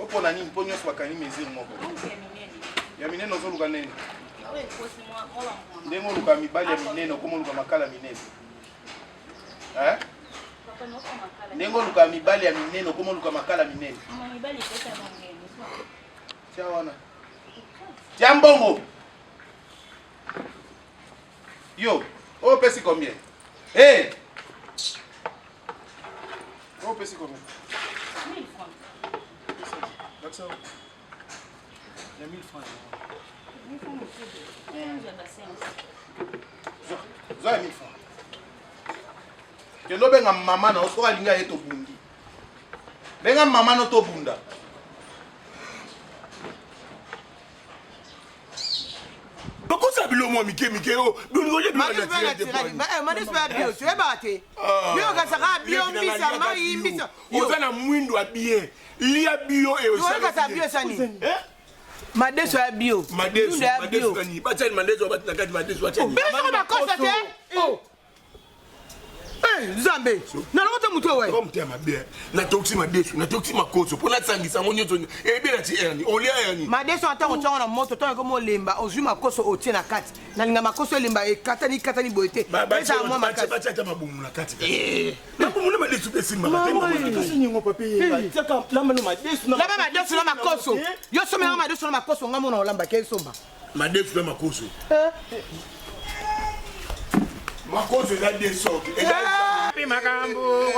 opona nini mpo nyonso bakangi mesure moko ya minene ozoluka nene ndenge oluka mibali ya minene okoma oluka makala minene ndenge oluka mibali ya minene okoma oluka makala minene tia wana tia mbongo Yo, oh pesi combien? Hey! Oh pesi combien? 1000 francs. That's all. Ya 1000 francs. Zoa ya 1000 francs. Kendo benga mama na oso alinga ye tobundi. Benga mama no tobunda. bakosa biloko mwa mike mike oyo oza na mwindo ya bien lia bio madeso ya bio madeso ya bio batyani madeso batina kati madeso batyani Eh, nzambe nalokota moto oyo eh. motema mabe eh. natokisi madesu natokisi makoso mpo nasangisa yango nyonso ebela ti erni olia erni madesu ata kotyango na moto ntango ekomi olemba ozwi makoso otie na kati nalinga makoso elemba ekatani katani boye te ezala mwa makasi ata mabumu na kati mabumu na madesu mpe esimbaka laba madesu na makoso yo somelaka madesu na makoso ngai mona olambaki esomba madefu na makoso makoso eza de sorte epi makambo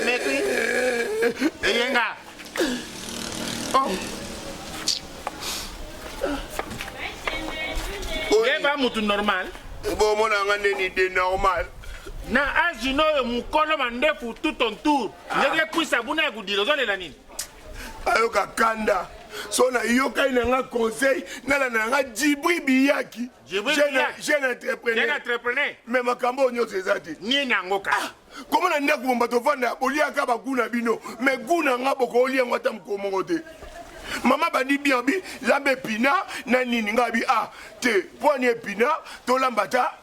mekui eyenga oh. yeba mutu normal bomona nga ndeni de normal na azino oyo mokolo mandefu tout on tour ndenge ah. kwisa buna ya kodira ozolela nini ayoka kanda so nayokani na nga conseil nalanda na nga jibri biyaki jeune entrepreneur me makambo oyo nyonso eza te nini yango kaka ah, komo na ndako bomba tovanda boliaka bagu na bino me gu na nga bokooli yango ata mokolo moko te mama bandi bien bi lamba epina na nini ngai bi a ah, te poani epina tolamba ta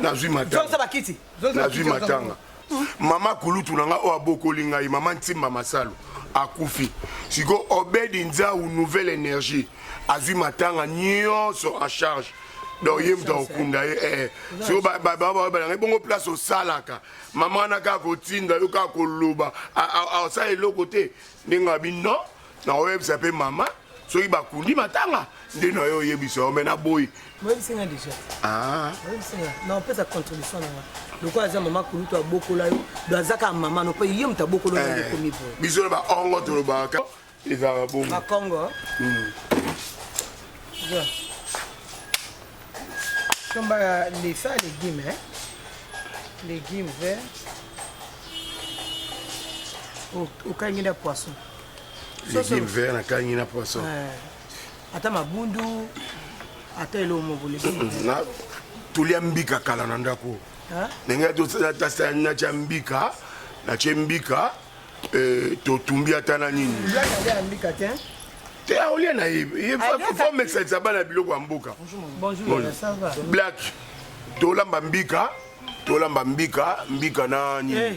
nazwi matanganazwi matanga mama kulutu na ngai oyo abokoli ngai mama ntimba masalo akufi sikoyo obedi nzau nouvelle énergie azwi matanga nyonso en charge donc ye moto akokunda ye eh, eh. siko babalanga ebongo place osalaka mama wana kaka kotinda yo kaka koloba asala eloko te ndenge abi non na oyebisa mpe mama soki bakundi matanga nde na yo oyebisa yo me na boyi moyebisi nga déjà ah. moyebisi nga na opesa contribution na nga lokola aza mama kulutu abokola yo do aza kaka mama no mpe ye moto abokola yo ekomi eh, boye biso na baongo tolobaka ezalaka bongo bakongo somba hmm. lesa legume eh? legume vert okangi nda poisson Legime vert na kangi na poisson. Eh, ata mabundu ata eloko moko legime. Na tulia mbika kala na ndako. Ndenge to tasa na cha mbika na che mbika eh, to tumbi ata na nini. Ya ya mbika te. Te aolia na ye. Il faut mixer ça bana biloko ya mboka. Bonjour. Bonjour. Ça va. Black. Tolamba mbika. tolamba mbika mbika na nini eh.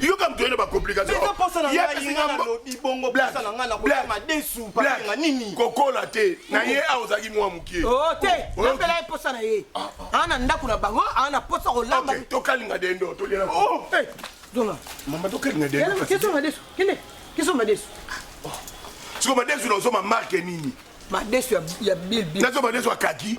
yoka moto ye na bacomplication kokola te na ye awa ozalaki mwa mokie oh, te oh, napela ye mposa na ye ah, ah. aa na ndako na bango aa na mposa kolamba tokalinga dendo tolia oh, mama tokalinga dendo kesoma madesu kende kesoma madesu siko madesu na osoma marke nini madesu ya bilbil nazo madesu ya kaki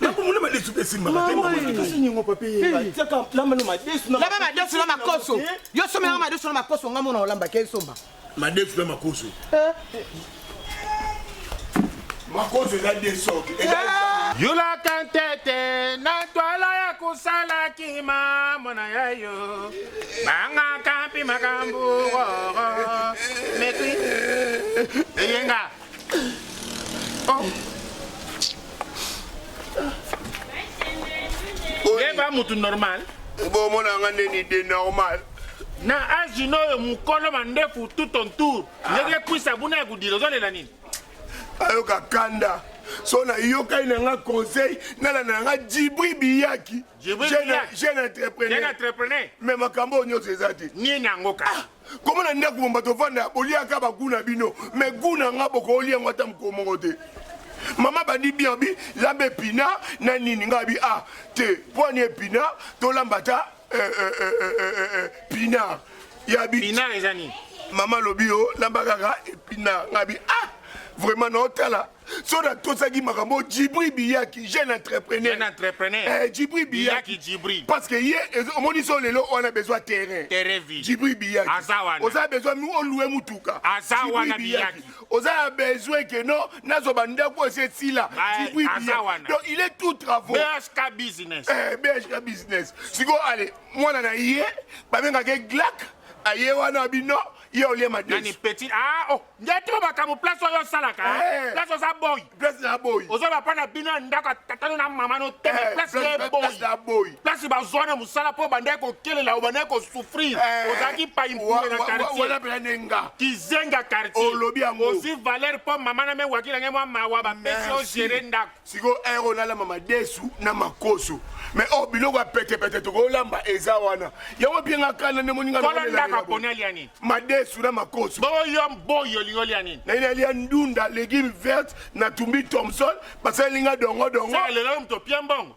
nakomona madesu mpe esimbakatiaka madesu na makoso yo somelaka madesu na makoso nga mona olambaki esomba madesu na makoso eh? makoso eza de sorte eh! yulaka ntete na twala ya kosala kima mwana ya yo bangaka mpi makambo roro metri eyenga oyeba mutu normal bomona nga nde nide normal na age noyo mukolo mandefu tout ton tour ah. ndenge kwisa buna ya kudila ozolela nini ayoka kanda so nayokani na nga conseil nalanda na nga jibri biyaki jeune entrepreneur me makambo oyo nyonso eza te nini yango kaka ah! komo na ndako bomba tovanda boliaka bagu na bino me gu na nga bokooli yango ata mokolo moko te mama bandi bien bi lamba epina na nini ngai bi a ah, te mpo ani epina tolamba ta eh, eh, eh, pina ya bi mama lobi yo lamba kaka epina ngai bi a ah, vraiment naotala so na tosaki makambo oyo jibri biyaki jeune entrepreneur Jeune entrepreneur. eh, jibri biyaki Biyaki Djibril. parce que ye ezo- omoni so lelo oyo na besoin terrain Terrain vide. jibri biyaki Aza wana. oza na besoin mi olue mutuka Aza Djibril wana Biyaki. oza na besoin que non nazwa bandako esi esila Ah, jibri aza biyaki wana. donc il est tout travaux BHK business. Eh, BHK business sikoyo ale mwana na ye babengaka ye glak aye wana bino ye olie Nani madesu petit ah oh ngeto makambo place oyo osalaka eh. place oza boyi place na boyi ozo bapa na bino ya ndako ya tata no na mama no te eh, place na boyi na boyi place bazwa na mosala mpo bandaki kokelela obandaki kosouffrir eh. ozalaki paimpule na quartierwana mpena nde nga kizenga quartier olobi yango ozwi valeur mpo mama na mewaki na ngai mwa mawa bapesi ogere ndako sikoyo heure oyo nalamba madesu na makoso me oyo oh, biloko ya petepete tokolamba eza wana yango bie nga kanda nde moninga kolondaka poni alia nini madesu na makoso boyo boyi olingi olia nini nayini alia ndunda legume verte na tumbi thomson basali linga dongo dongo lelo moto opia mbongo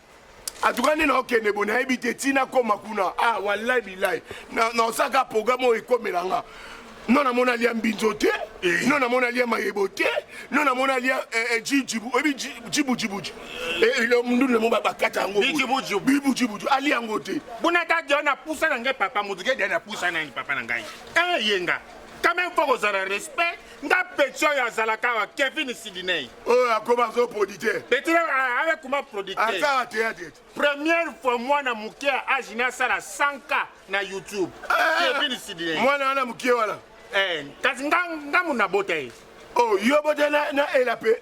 atuka nde naokende bo nayebi te ntina koma kuna ah wallahi bilahi naosaka programme oyo ekomela nga no namona alia mbinzo te eh. no namona alia mayebo te no namona alia eh, eh, jijibu oyebi jibujibuji mundundu namo bakata yango bibujibuji alia yango te bona ta dia na pusa na ngai papa motuke dia na pusa nani papa na ngai eyenga quand même fo kozala respect nga petit oyo azalaka awa kevin sidinei oyo oh, akoma azo producteur petit aye kuma producteur asala théâtre première fois mwana moke ya age ne asala 100 k na youtube eh, eh, kevin sidinei mwana wana moke wana eh, kasi nga muna bota ye oh, yo bota na ela mpe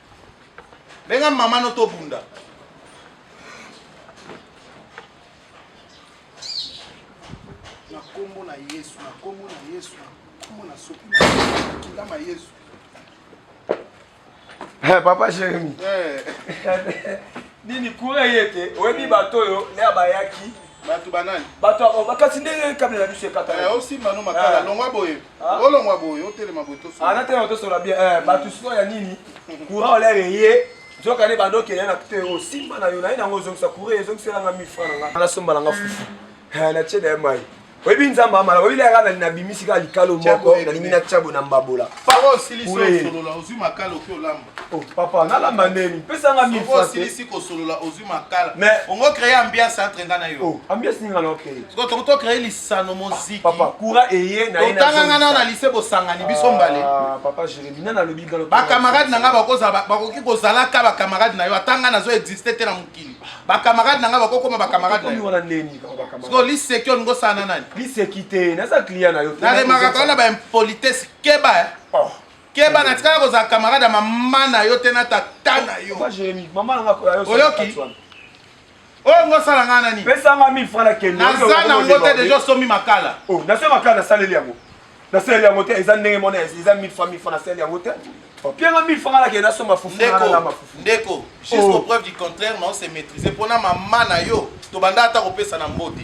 Benga maman no tobunda. Na kombo na Yesu, na kombo na Yesu, na kombo na soki na kindama Yesu. Hey, eh, papa Jérémy. Hey. Eh. Nini kura yete, oyebi bato oyo ne abayaki. Bato banani? Bato bakasi ndenge kabila na biso ekata. Eh, osimba no makala, longwa boye. Ah. olongwa boye otelema boye tosola ah, natelema tosola bien eh, bato mm. sikoyo ya nini courant olaire eye nzoka nde bandokele na te osimba na yo naye nango ozongisa courant ezongiselanga mifra na nga nasomba na nga fufu eh, na tieda ya mai oyebi nzambe amala oyebi laka nani nabimisi kaka likalo moko nalingi na tiabo na mbabola Oh, papa nalamba ndeni pesa nga mille francs osilisi kosolola ozwi makala mais ongo créer ambiance entre nga na yo oh, ambiance ninga na okeye sikoyo toko to créer lisano moziki papa courant eye na totanga nga na na lycée bosangani biso mbale ah, papa jérémi na nalobi nga bacamarade na nga bakozala bakoki kozalaka bacamarade na yo ata nga nazo existe te na mokili bacamarade na nga bakokoma bacamarade na yo sikoyo liseki olingi osala na nani liseki te naza client na yo naremakaka wana baimpolitesse keba eh. oh. keba na tikala kozala camarade ya mama na yo te na tata na yo Papa Jérémie, maman nanga koya yo Oyoki? sala katsuana. oyo ngo osala ngai nani Pesa nga 1000 francs na kende. naza na ngo te deja osomi makala Oh, na sema kala nasaleli yango. Nasaleli yango te, eza ndenge mona eza 1000 francs 1000 francs nasaleli yango te. Oh, pia nga 1000 francs na kende nasomba fufu na ndeko na mafufu. ndeko jusqu'au Oh. preuve du contraire nao se maîtriser mpo na mama na yo tobanda ata kopesa na mbote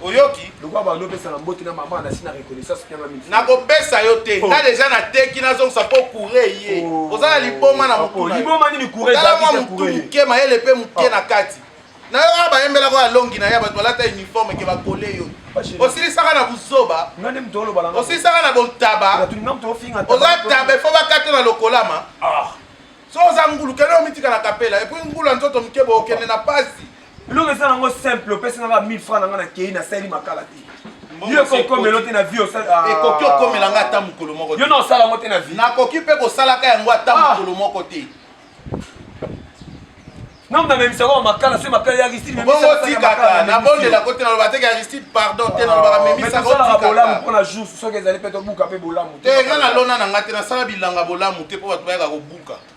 oyoki lokola bando opesaka mbote na mama nasi na reconnaissance mpianga mingi nakopesa yo te oh. nga deja nateki nazongisa mpo kure ye oh. oza na liboma na mokuliboma nini kuretala mwa motu moke mayele mpe moke oh. na kati nayoka ah, bayembelaka ya longi na ye bato balata uniforme ke bakole yo osilisaka na buzoba osilisaka na botaba oza taba efo bakata na lokolama ah. so oza ngulu kende omitika na kapela epui ngulu ya nzoto moke bookende na pasi Eloko eza nango simple opesi nanga 1000 francs nanga nakeyi nasaleli makala te yo ekokomela te na vie ah. ekoki okomela ngai ata mokolo moko yo na osala yango te na vie nakoki mpe kosalaka yango ata ah. mokolo moko te namna memisaka wa makala soki makala ya aristide bongo otikaka nabondelako te naloba teke aristide pardon te nalobaka memisaka bolamu mpo na jour soki ezali mpe tobuka mpe bolamu te nga nalona na ngai te nasala bilanga bolamu te mpo bato bayaka kobuka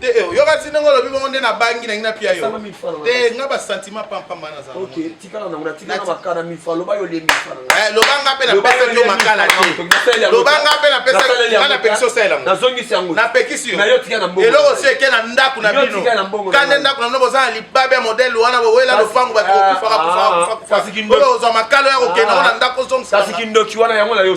te eh, oyoka ti ndenge olobi bongo nde nabangi nangi napia yo te nga basentiment pampamba nazalolobanga mpe napesaki yo makala telobanga mpe napesaki osaelangonapekisi yo eloko si eke na ndako na bino kande ndako na bino boza na libabe ya modele wana bowela lopango bato kokufaka kufaka kufaka ozwa makalo ya kokenda ngo na ndako ozongisa kasi kindoki wana yango na yo